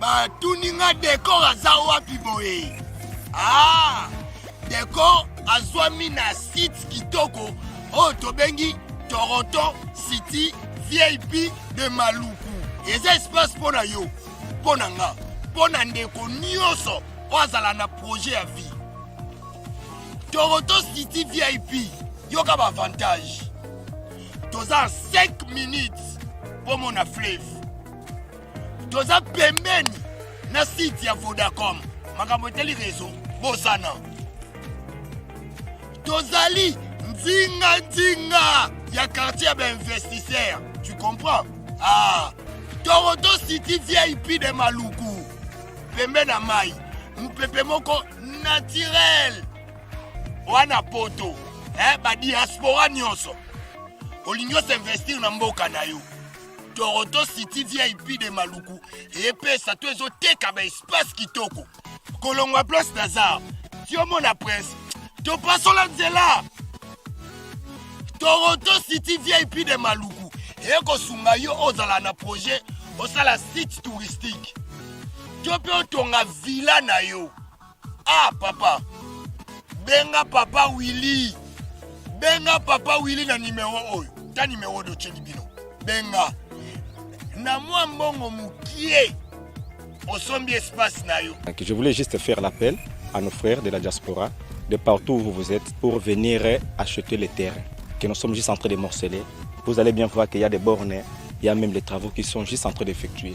batuni nga dekor aza wapi boye ah, dekor azwami na site kitoko oyo tobengi toronto city vip de maluku eza espace mpo na yo mpo na nga mpo na ndeko nyonso oyo azala na projet ya vie Toronto City VIP yoka ba avantage toza 5 minutes mpo mona fleuve toza pembeni na site ya vodacom makambo etali rezo bosana tozali nzinga nzinga ya quartier ya bainvestisseur tu comprends ah, toronto city vip de maluku pembe na mai mopepe moko naturel wana poto eh, badiaspora nyonso olingi osinvestir na mboka na yo toronto city vip de maluku epesa to ezoteka baespace kitoko kolongwa place nazar ti omona prince topasola nzela toronto city vip de maluku ekosunga yo ozala na projet osala site touristique to mpe otonga villa na yo ah papa benga papa willi benga papa willi na nimero oyo ta nimero oyo otyeli bino benga na mwa mbongo mokie osombi espace na yo je voulais juste faire l'appel à nos frères de la diaspora de partout où vous êtes pour venir acheter les terrains que nous sommes juste en train de morceler vous allez bien voir qu'il y a des bornes il y a même les travaux qui sont juste en train d'effectuer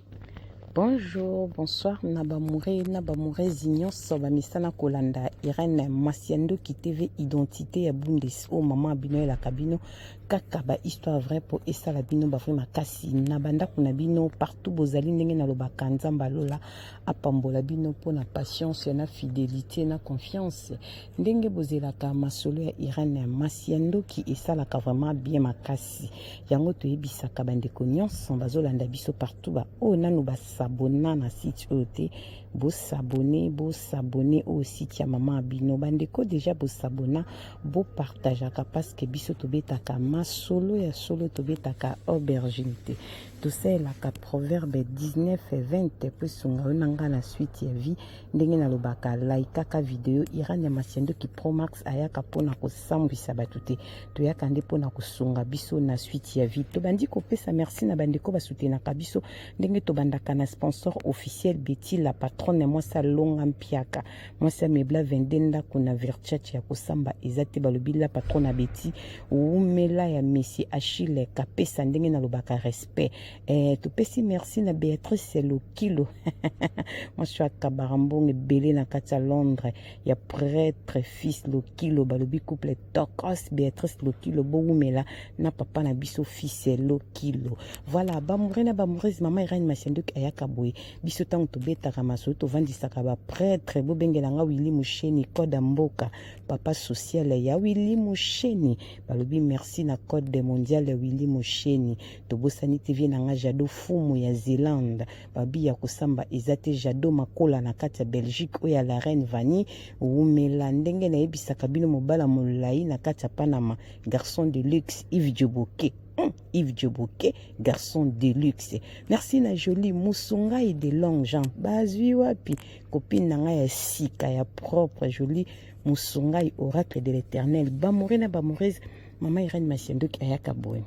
Bonjour, bonsoir na bamoure na bamourezi nyonso bamesana kolanda Irène Masiandoki TV identité ya Bundes oyo oh, mama bino elaka bino kaka ba histoire vrai mpo esala bino bavrai makasi na bandako na bino partout bozali ndenge nalobaka nzambe alola apambola bino mpo na patience na fidelité na confiance ndenge bozelaka masolo ya irene masi ya ndoki esalaka vraiment bien makasi yango toyebisaka bandeko nyonso bazolanda biso partout baoyo oh, nanu basabona na site oyo te bosabone bosabone oyo site ya mama ya bino bandeko deja bosabona bopartageaka parceke biso tobetaka masolo ya solo tobetaka aubergine te tosalelaka proverbe 19 20 mpo esunga yo na ngai na suite ya vie ndenge nalobaka laikaka video irania masiandoki promax ayaka mpona kosambwisa bato te toyaka nde mpona kosunga biso na suite ya vie tobandi kopesa merci na bandeko basutenaka biso ndenge tobandaka na sponsor officiel beti la patronne mwasi alonga mpiaka mwasi amebla 22 ndako na virchach ya kosamba eza te balobi la patronne abeti wumela ya messi achille kapesa ndenge nalobaka respect Eh, topesi merci na Beatrice Lokilo mwasi ya kabara mbongo ebele na kati ya Londres ya pretre fils Lokilo balobi couple tokos Beatrice Lokilo bowumela na papa na biso fils Lokilo voilà bamoure na bamourese mama Irene Masiandoki ayaka boye biso ntango tobetaka masolo tovandisaka bapretre bobengela nga Willy Musheni code ya mboka papa social ya Willy Musheni balobi merci na code mondial ya Willy Musheni tobosani te vie na nga jado fumu ya zelande babi ya kosamba eza te jado makola na kati ya belgique oyo ya la reine vani wumela ndenge nayebisaka bino mobala molai na kati ya panama garçon de luxe ive joboke hmm, Yves Djoboke, garçon de luxe. Merci na jolie musungai de long jean. Bazui wapi copine na nga ya sika ya propre jolie musungai oracle de l'éternel. Bamore na bamoreuse mama Irène Masiandoki ayaka boye.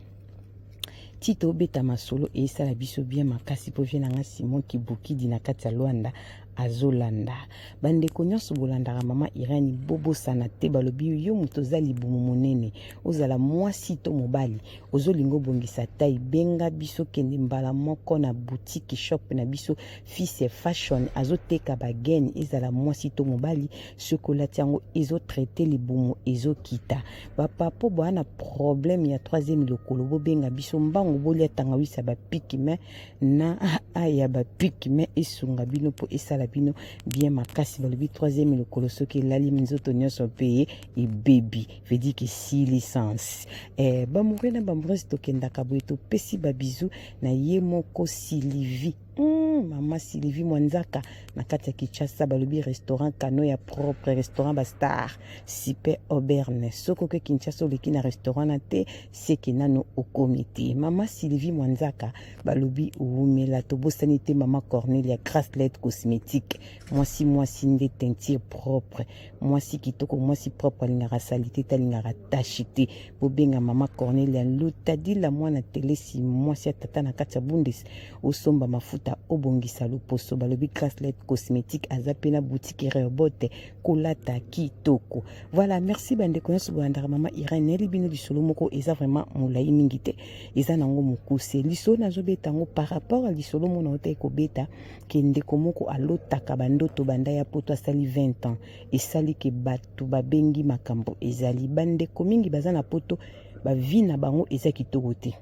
ti tobeta masolo esala biso bien makasi mpo vie na nga simon kibukidi na kati ya lwanda azolanda bandeko nyonso bolandaka mama irani bobosana te balobi yo moto oza libumu monene ozala mwasi to mobali ozolinga obongisa tai benga biso kende mbala moko na butiki shop na biso fise fashion azoteka bagene ezala mwasi to mobali chocolat yango ezo traite libumu ezokita bapapo boa na problème ya troisième lokolo bobenga biso mbangu bolia tangawisi ya bapiki me na aa ya bapiki me esunga bino mpo esala bino bien makasi balobi troisième lokolo soki elali nzoto nyonso mpe ebebi vedike si licence eh, bamoure na bambrose tokendaka boye topesi babizu na ye moko silivi Hmm, mama Sylvie Mwanzaka na kati ya Kinshasa balobi restaurant kano ya propre restaurant ba star super aubergne soki oke Kinshasa oleki na restaurant na te seke nano okomi te mama Sylvie Mwanzaka balobi wumela tobosani te mama Cornelia Gracelet cosmétique mwasi mwasi nde teinture propre mwasi kitoko mwasi propre alingaka salite te alingaka tashi te bobenga mama cornelia lutadila mwana telesi mwasi ya tata na kati ya bundes osomba mafuta obongisa loposo balobi graslet cosmétique aza mpe na boutique reobote kolata kitoko voilà merci bandeko nyonso bolandaka mama irene nayeli bino lisolo moko eza vraiment molai mingi te eza nango mokuse lisolo nazobeta yango par rapport ya lisolo mona otaki kobeta ke ndeko moko alotaka bandoto banda ya poto asali 20 ans esali ke bato babengi makambo ezali bandeko mingi baza na poto bavi na bango eza kitoko te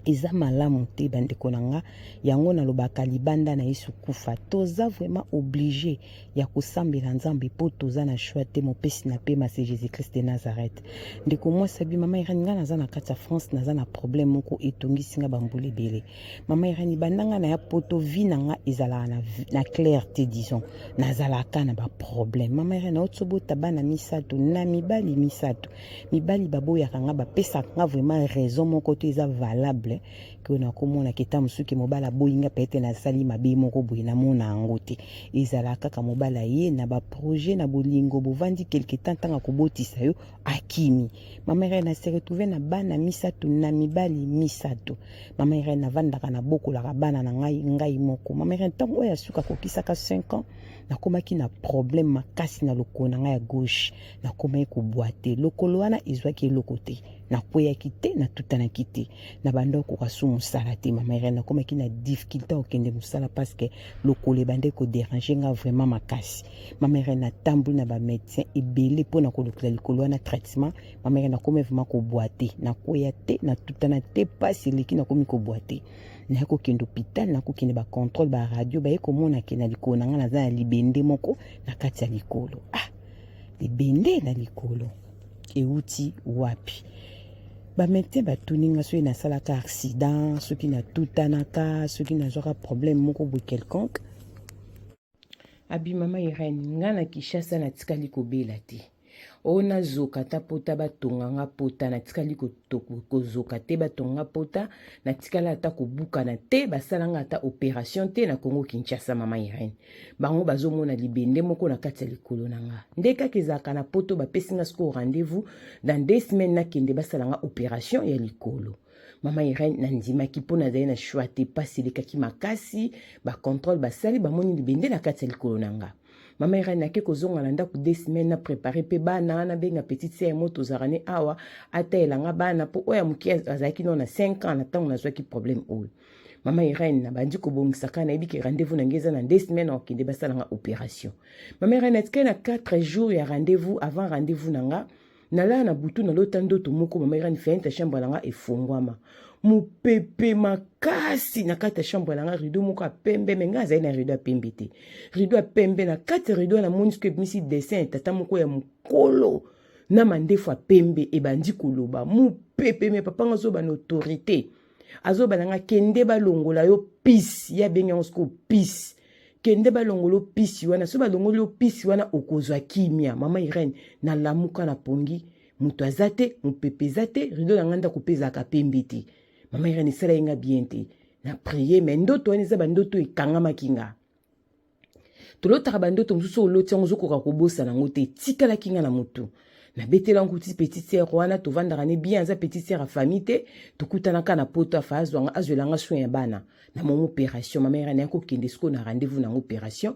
eza malamu te bandeko na nga yango nalobaka libanda na yesu kufa toza vraiment oblige ya kosambela nzambe mpo toza na shoi te mopesi na pema se jésus christ de nazareth ndeko mwasi abi mama irani ngai naza na kati ya france naza na problème moko etongisi ngai bambula ebele Maman Irène, bandanga na ya poto vie na nga ezalaka na, na claire te disons. Nazalaka na ba problème. Maman Irène, otsobota bana misato na mibali misato. Mibali baboyaka nga bapesaka nga vraiment raison moko to eza valable ke oyo nakomona keta mosusu ke mobali aboyi nga pete nasali mabe moko boye namona yango te ezala kaka mobali aye na baprojet na bolingo bovandi quelque temps ntango akobotisa yo akimi mamere na se retrouve na bana misato na mibali misato Mama Irène navandaka na bokolaka bana na ngai ngai moko. Mama Irène ntango oyo ya suka kokisaka 5 ans nakomaki na problème makasi na lokolo na ngai ya gauche nakomaki kobwate lokolo wana ezwaki eloko te nakweyaki te natutanaki te na banda okoka su mosala te mama Irène nakomaki na difficulté okende mosala parce que lokolo ebandaki koderange nga vraiment makasi mama Irène natamboli na bamédecin ebele mpo na kolukela likolo wana traitement mameke nakomi vraimen kobwa te nakweya te natutana te mpasi eleki nakomi kobwa te naye kokende hôpital nakokende bacontrôle baradio baye komona ke na likolo na ngai naza na libende moko na kati ya likolo ah libende na likolo euti wapi bametien batuni ngai soki nasalaka accident soki natutanaka soki nazwaka problème moko boye quelconque Abi mama Irène, nga na Kinshasa natikali kobela te. O nazoka ata pota batonga nga pota natikali kozoka te batonga nga pota natikala ata kobukana te basala nga ata operation te na Congo Kinshasa mama Irène. Bango bazomona libende moko na kati ya likolo na nga. Nde kaka ezalaka na poto bapesi nga sikoyo rendez-vous dans deux semaines nakende basala nga operation ya likolo. mama irene nandimaki mpo nazali na shwa te mpasi elekaki makasi bacontrole basali bamoni libende na kati ya likolo na nga mama irene nake kozonga na ndako de semaine na prépare mpe bana nabenga petite sere mo tozalaka ne awa atayela nga bana mpo oyo ya moke azalaki nao na 5 ans na ntango nazwaki problème oyo mama irene nabandi kobongisaka nayebi ke rendez-vous na ngai eza na de semaine akokende basalanga opération mama irene atikali na 4 jours ya rendez-vous avant rendez-vous na nga nalala na butu nalota ndoto moko mama irani fenêtre ya chambre na nga efongwama mopepe makasi na kati ya chambre na nga rideau moko ya pembe me ngai azali na rideau ya pembe te rideau ya pembe na kati ya rideau wana moni soki ebimisi dessin ya tata moko ya mokolo na mandefu ya pembe ebandi koloba mopepe me papa nga azoba na autorité azoba na nga kende balongola yo pisi ye abengi yango sikoyo pisi kende balongola yo pisi wana soki balongoli yo pisi wana okozwa kimia mama irene nalamuka na pongi moto aza te mopepe eza te rido na ngai ndako mpe ezalaka pembe te mama irene esala ye nga bien te na prie me ndoto wana eza bandoto ekangamaki nga tolotaka bandoto mosusu oyo oloti yango ozokoka kobosana yango te etikalaki nga na motu nabetela yango ti petite sere wana tovandaka ne bien aza petite sere ya famille te tokutanaka na poto afa azwanga azwela nga soin ya bana na moma opération mama era naye kokende sikoyo na rendez-vous nango opération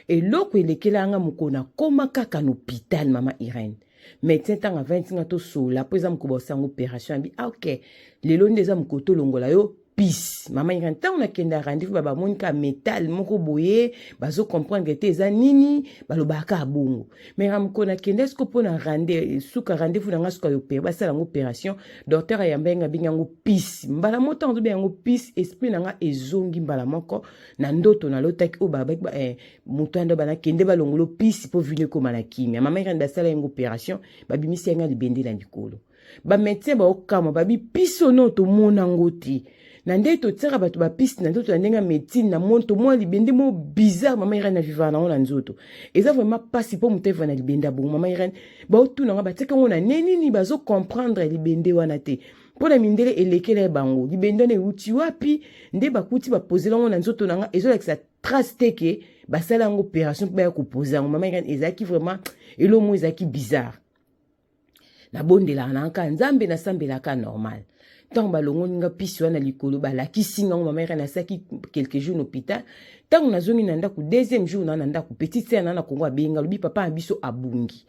eloko elekela yanga mokolo nakoma kaka na hôpital mama irene médecin ntango avandi ntinga tosolola mpo eza mokolo baosa yango opération abi ah, ok lelo nde eza mokolo tolongola yo pise mama ira ntango nakenda rendez-vous ba bamoni ka metal moko boye bazo comprendre te eza nini balobaka kaka bongo mais ramko nakenda siko mpo na rende suka rendez-vous na ngai suka yopere basala yango opération docteur ayamba yenge abengi yango pise mbala moko ntango tobenga yango pise esprit na ngai ezongi mbala moko na ndoto nalotaki oyo babaki eh, moto ando banakende balongolo pise mpo vino ekoma na kimia mama ira nde asala yango opération babimisi yangai libende na likolo ba médecin baokamwa babi pisi ono tomona ngo te na ndenge totiaka bato bapiste na nzoto na ndenge ya médecine na moni tomona libende moko bizarre mama irene avivaka nango na nzoto eza vraiment mpasi mpo moto aviva na libende ya bongo mama irene baotuna nga batika yango na ne nini bazocomprendre libende wana te mpo na mindele elekela ye bango libende wana euti wapi nde bakuti bapozela yango na nzoto na nga ezolakisa trace te ke basala yango opération mpo baya kopoza yango mama irene ezalaki vraiment eloko moko ezalaki bizarre nabondelaka na kaka nzambe nasambelaka normal ntango balongoli nga pisi wana likolo balakisi ngango mama ere nasalaki quelque jour na hôpital ntango nazongi na ndako deuxième jour naa na ndako petite sere naa na kongo abenga alobi papa na biso abungi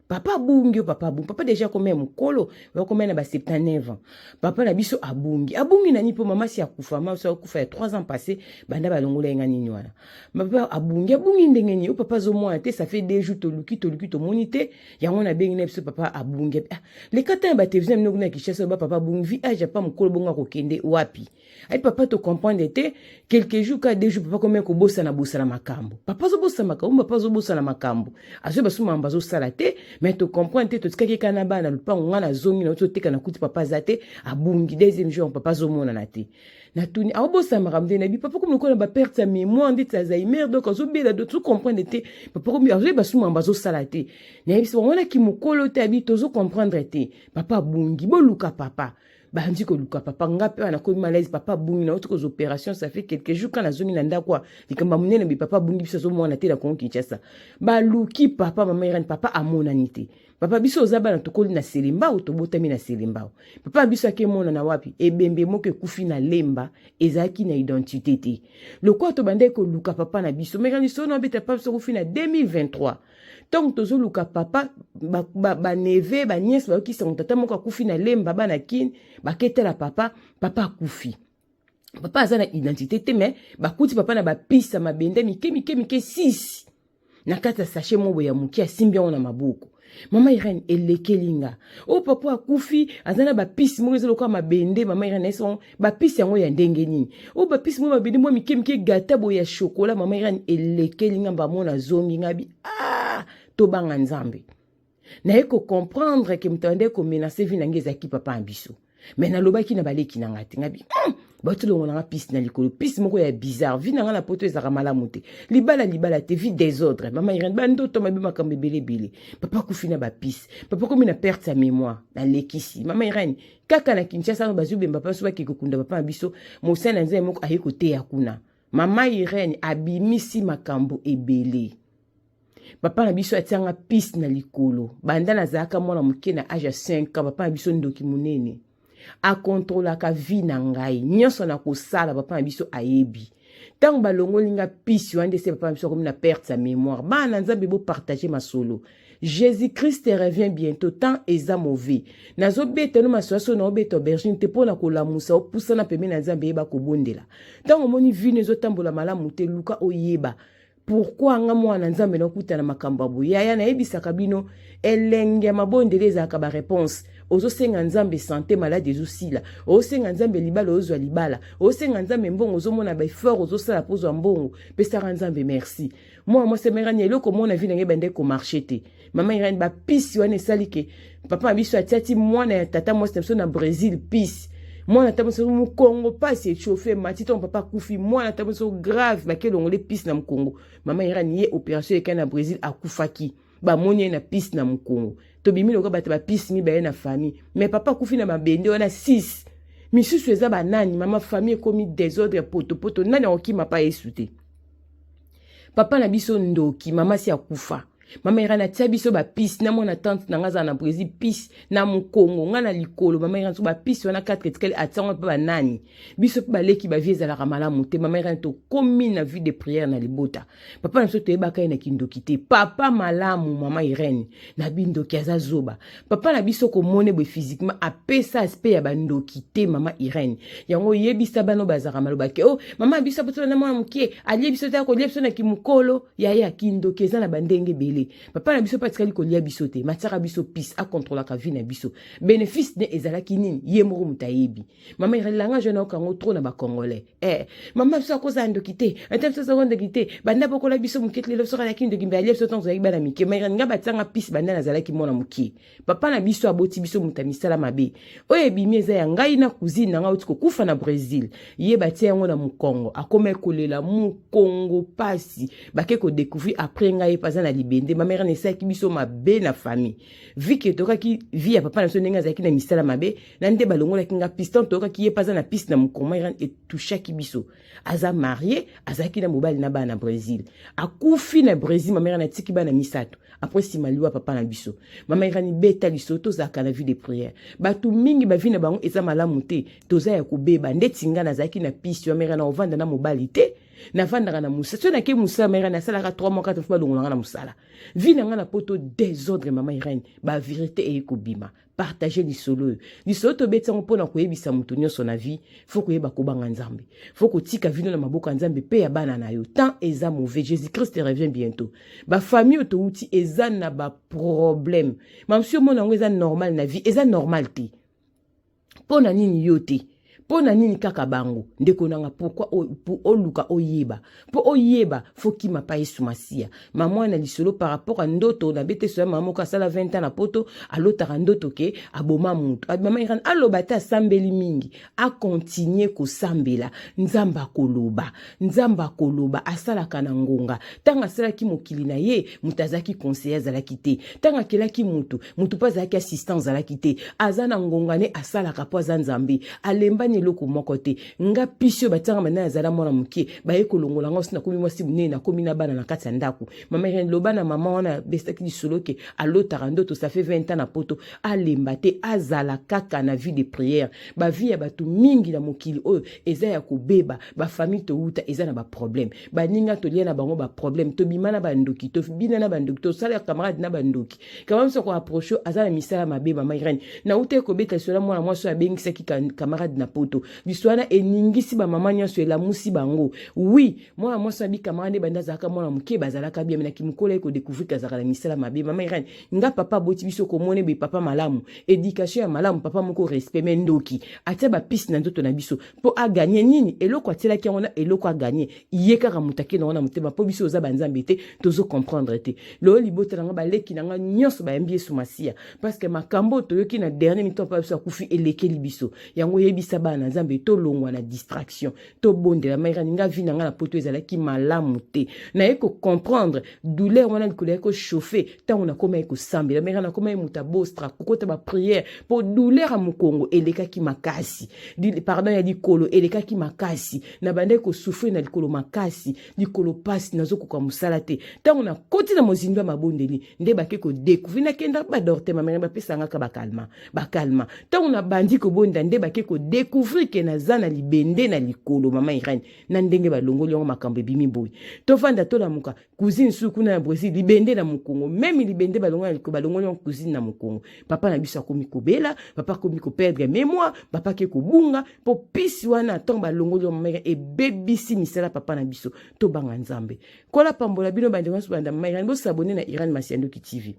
papa abungi yo papa abungi papa deja akomi ya mokolo bakomi na ba 79 ans papa na biso abungi abungi nani mpo mama si akufa mama si akufa ya 3 ans passé banda balongola ye nga nini wana papa abungi abungi ndenge nini yo papa azomona te ça fait deux jours toluki toluki tomoni te yango nabengi na biso papa abungi ah, leka ntango batelevizio bino kuna ya kinshasa oba papa abungi vi age apa mokolo bongo akokende wapi ai papa tocomprendre te quelque jour ka deux jour papa komei kobosana bosana makambo papa azobosana makambo papa azobosana makambo azwi basusu makambo azosala te mai tocomprendre te totikaki kaka na bana lopango ngai nazongi nauti oteka na kuti papa aza te abungi deuxième jour papa azomonana te natuni aobosana makambo te nayebi papa komi lokola na baperte ya mémoire ndeti alzheimer donc azobela do tozo comprendre te papa komi azoyeba susu makambo azosala te nayebisa bango wana kimokolo te abi tozo comprendre te papa abungi boluka papa bandi koluka papa nga mpe wana komi malaise papa abungi na oti koza opération ça fait quelque jour kana azongi na ndako a likambo ya monene bi papa abungi biso azomwana te na kongo kinshasa baluki papa mama irene papa amonani te papa biso oza bana tokoli na selembao tobotami na selembao papa biso ake emonana wapi ebembe moko ekufi na lemba ezalaki na identité te lokola tobandaki koluka papa na biso mekani sono abeta papa biso kufi na 2023 ntango tozoluka papa baneve baniese bayoki sango tata moko akufi na lemba bana kine baketala papa papa akufi papa aza na identité te mais bakuti papa na bapiste ya mabende mike mike mike 6 na kati ya sashe mobo ya moke asimbi yango na maboko mama irene elekeli nga o oh, papa akufi aza na bapisi moko eza lokola mabende mama irene eso bapisi yango ya ndenge nini o oh, bapisi moko mabende mwa mike mike gata boye ya shokola mama irene elekeli nga mbamona azongi nga bi ah tobanga nzambe naye ko comprendre ke moto abandaki komenase vi na ngai ezalaki papa na biso me nalobaki na baleki na ngai te ngabi hmm, bauti longo na ngai pisi na likolo pisi moko ya bizarre vi na ngai na poto ezalaka malamu te libala libala te vi desordre mama irene bandoto mabe makambo ebele ebele papa kufi na bapisi papa komi na perte ya mémoire nalekisi mama irene kaka na kinshasa ano bazwi bemba mpanso bakei kokunda papa na biso mosali na nzambe moko aye koteya kuna mama irene abimisi makambo ebele papa na biso atianga piste na likolo banda nazalaka mwana moke na age ya 5 ans papa na biso ndoki monene akontrolaka vie na ngai nyonso na kosala papa na biso ayebi ntango balongoli nga pisi wana nde se papa na biso akomi na perte ya mémoire bana na nzambe bopartage masolo jésus christ revient bientôt temps eza mauvais nazobeta no masolo soki naobeta aubergine te mpo na kolamusa opusana pembeni na nzambe yeba kobondela ntango omoni vino ezotambola malamu te luka oyeba pourkua nga mwana nzambe nakuta na makambo ya boye yaya nayebisaka bino elengi ya mabondeli ezalaka bareponse ozosenga nzambe sante maladi ezosila ozosenga nzambe libala ozwa libala ozosenga nzambe mbongo ozomona baeffort ozosala mpo ozwa mbongo pesaka nzambe merci mwana mwasi amerani eloko mona vi na ngai ebandaki komarche te Mama Irene ba pisi wana esali ke papa na biso atiati mwana ya tata mwasi na biso na Brésil pisi mwana ta biso mukongo pasi echauffe mati ntango papa akufi mwana ta biso grave bakelongole pisi na mukongo mama irani ye opération ekai na brésil akufaki bamoni ye na pisi na mukongo tobimi lokola bato bapisi mibale na famille me papa akufi na mabende wana 6 misusu eza banani mama famille ekomi desordre ya potopoto nani akokima pa yesu te papa na biso ndoki mama si akufa mama irani atia biso bapisi na mwana tante na ngai azala na brésil pisi na mokongo ngai na likolo mama irani so bapisi wana katre etikali atiango mpe banani biso mpe baleki bavie ezalaka malamu te mama irani tokomi na vie de prière na libota papa na biso toyebaka ye na kindoki te papa malamu mama irene na bindoki aza zoba papa na biso komone boye physiquement apesa aspect ya bandoki te mama irene yango oyebisa bano bazalaka malobake o oh, mama biso apotola na mwana moke alie biso te akolia biso na kimokolo yaya kindoki eza na bandenge ebele papa na biso mpe atikali kolia biso te matiaka biso pise akontrolaka vie na biso benefice ne ezalaki nini ye moko moto ayebi mama irelanga jona okango tro na bacongolais eh, mama biso akozala ndoki te ata biso azako ndoki te banda bokola biso moke lelo soka na kindoki mbe alia biso ntango tozalaki bana mike ma irelinga batianga pise banda nazalaki mwana moke papa na biso aboti biso moto ya misala mabe oyo ebimi eza ya ngai na cousine na ngai oti kokufa na brésil ye batia yango na mokongo akomaki kolela mokongo pasi bake kodecouvrir après ngai mpe aza na libende mamere na esalaki biso mabe na famille vike etokaki vi ya papa na biso ndenge azalaki na misala mabe na nde balongolaki ngai piste ntokaki ye mpe aza na piste na mokongo mamere etouchaki biso aza marie azalaki na mobali na bana na brésil akufi na brésil mama irani atiki bana misato apres nsima liwa papa na biso mama irani beta liso tozalaka na vie de prière bato mingi bavi na bango eza malamu te toza ya kobeba ndeti ngai nazalaki na piste mama irani ovanda na mobali te navandaka na mosala soki nakei mosala mama irani asalaka 3 mois 4 fo balongolanga na mosala vi na ngai na poto desordre mama irani baverité eye kobima partage lisolo oyo lisolo tobeti yango mpo na koyebisa moto nyonso na vie fo koyeba kobanga nzambe fo kotika vino na maboko ya nzambe mpe ya bana na yo temps eza mauvais jésus christ revient bientôt bafamille oyo touti eza na baproblème mamsi omona yango eza normal na vie eza normal te mpo na nini yo te mpo na nini kaka bango ndeko nanga pourkui oluka oyeba mpo oyeba fokima pa yesu masiya mama na lisolo par rapport ya ndoto na beteso ya mama moko asala 20 ans na poto alotaka ndoto ke aboma moto mama irane aloba te asambeli mingi akontinue kosambela nzambe akoloba Nzambe akoloba, asalaka na ngonga. Ntango asalaki mokili na ye, moto azalaki conseiller, azalaki te. Ntango akelaki moto, moto mpe azalaki assistant, azalaki te. Aza na ngonga ne asalaka mpo aza Nzambe. Alembani eloko moko te. Nga pisi oyo batianga bana azala mwana moke, baye kolongola nga osi nakomi mwasi monene, nakomi na bana na kati ya ndako. Mama Irene, loba na mama wana besaki lisolo ke alotaka ndoto, ça fait 20 ans na poto, alemba te, azala kaka na vie de prière. Ba vie ya bato mingi na mokili oyo eza ya kobeba. bafamille towuta eza na baproblème baninga tolia na bango baproblème tobima na bandoki tobina na bandoki tosala ya camarade na bandoki kamama soko approche aza na misala mabe mama irene nawutaki kobeta lisolo ya mwana mwasi oyo abengisaki camarade na poto lisolo wana eningisi bamama nyonso elamusi bango wi mwana mwasi na bikamara nde banda azalaka mwana moke bazalaka bien na kimokolo ye kodecouvrir azalaka na misala mabe mama irene nga papa aboti biso komona ebe papa malamu éducation ya malamu papa moko respect me ndoki atia bapiste na nzoto na biso mpo aganye nini eloko atielaki yango na eloko aganye ye kaka moto ake nango na motema mpo biso oza banzambe te tozo comprendre te lelo libota na nga baleki na nga nyonso bayambi yesu masiya parceke makambo oyo toyoki na dernier mito mpa biso akufi elekeli biso yango oyebisa bana na nzambe tolongwa na distraction tobondela mairani nga vi na nga na poto ezalaki malamu te naye kocomprendre douleur wana likolo yaki kochauffe ntango nakomaki kosambela meka nakomaki moto abostra kokota bapriere mpo douleur ya mokongo elekaki makasi pardon ya likolo elekaki makasi nabandaki kosufrir na likolo makasi likolo mpasi nazokoka mosala te ntango nakoti na mozindo ya mabondeli nde bake kodekouvri nakenda badorte mamere bapesangaka bakalma bakalma ntango nabandi kobonda nde bake kodekouvri ke naza na libende na likolo mama irene na ndenge balongoli yango makambo ebimi boye tofanda tolamuka cousine su kuna na brésil libende na mokongo meme libende balongoli liko balongoli yango cousine na mokongo papa na biso akomi kobela papa akomi koperdre mémoire papa ake kobunga mpo pisi wana ntango balongoli yo mameka ebebisi misala papa na biso tobanga nzambe kola pambola bino bandeko nyonso banda mameka bosabone na iran masiandoki tv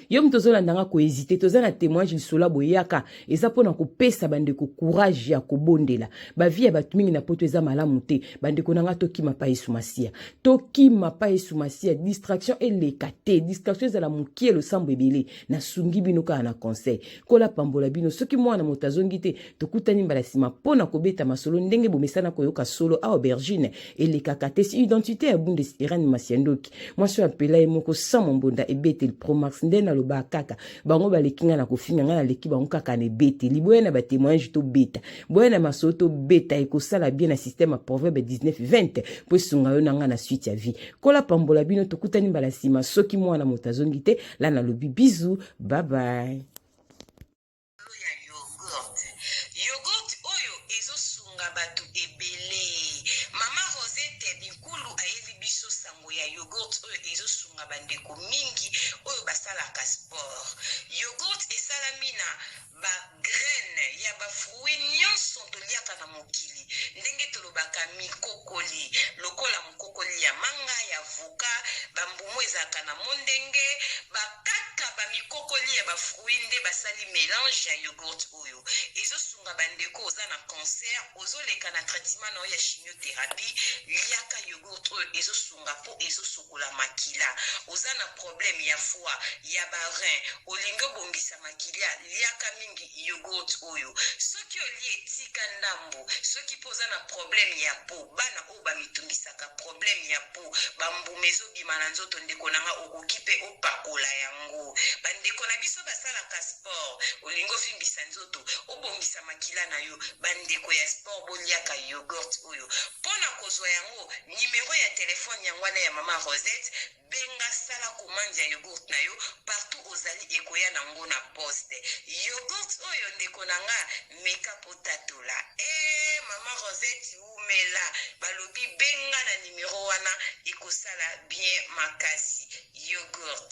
yo moto ozolanda nga kohésite toza na témoignage lisolo ya boyaka eza mpo na kopesa bandeko courage ya kobondela bavi ya bato mingi na poto eza malamu te bandeko na nga tokima pa yesu masiya tokima pa yesu masiya distraction eleka te distraction ezala mokie losambo ebele nasungi bino kaka na conseil Nkolo apambola bino. Soki mwana moto azongi te, tokutani mbala nsima mpo na kobeta masolo ndenge bomesana koyoka solo awa aubergine elekaka te. Si identite ya Bundes Irene Masiandoki, mwasi oyo apela ye moko sans mombonda ebeteli Promax nde nalobaka kaka. Bango baleki ngai na kofinga, ngai naleki bango kaka na ebeteli. Boya na batemoignage tobeta, boya na masolo tobeta, ekosala bien na système ya Proverbe 19-20 mpo esunga yo na ngai na suite ya vie. Nkolo apambola bino, tokutani mbala nsima soki mwana moto azongi te. la nalobi bizu bye bye bato ebele mama rosette binkulu ayebi biso sango ya yogurt oyo ezosunga bandeko mingi oyo basalaka sport yogurt esalami na Ba graines ya ba fruits nionso toliaka na mokili, ndenge tolobaka mikokoli, lokola mokokoli ya manga, ya avocat, ba mbumu ezalaka na mondenge, ba kaka ba mikokoli ya ba fruits nde basali melange ya yoghurt oyo. Ezo sunga ba ndeko oza na cancer, ozo leka na traitement na yo ya chimiotherapie, liaka yoghurt oyo ezo sunga po ezo kosukola makila oza na problème ya foie ya ba rein olingi obongisa makila liaka mingi yogurt oyo soki olie tika ndambo soki mpo oza na problème ya po bana oyo bamitungisaka problème ya po bambuma ezobima na nzoto ndeko na nga okoki mpe opakola yango bandeko na biso basalaka sport olingi ovimbisa nzoto obongisa makila na yo bandeko ya sport boliaka yogurt oyo mpo na kozwa yango numero ya telephone yango wana ya mama Rosette benga sala commande ya yogurt na yo partout ozali ekoya na ngo na poste yogurt oyo ndeko na nga meka potatola eh mama Rosette wumela balobi benga na numero wana ekosala bien makasi yogurt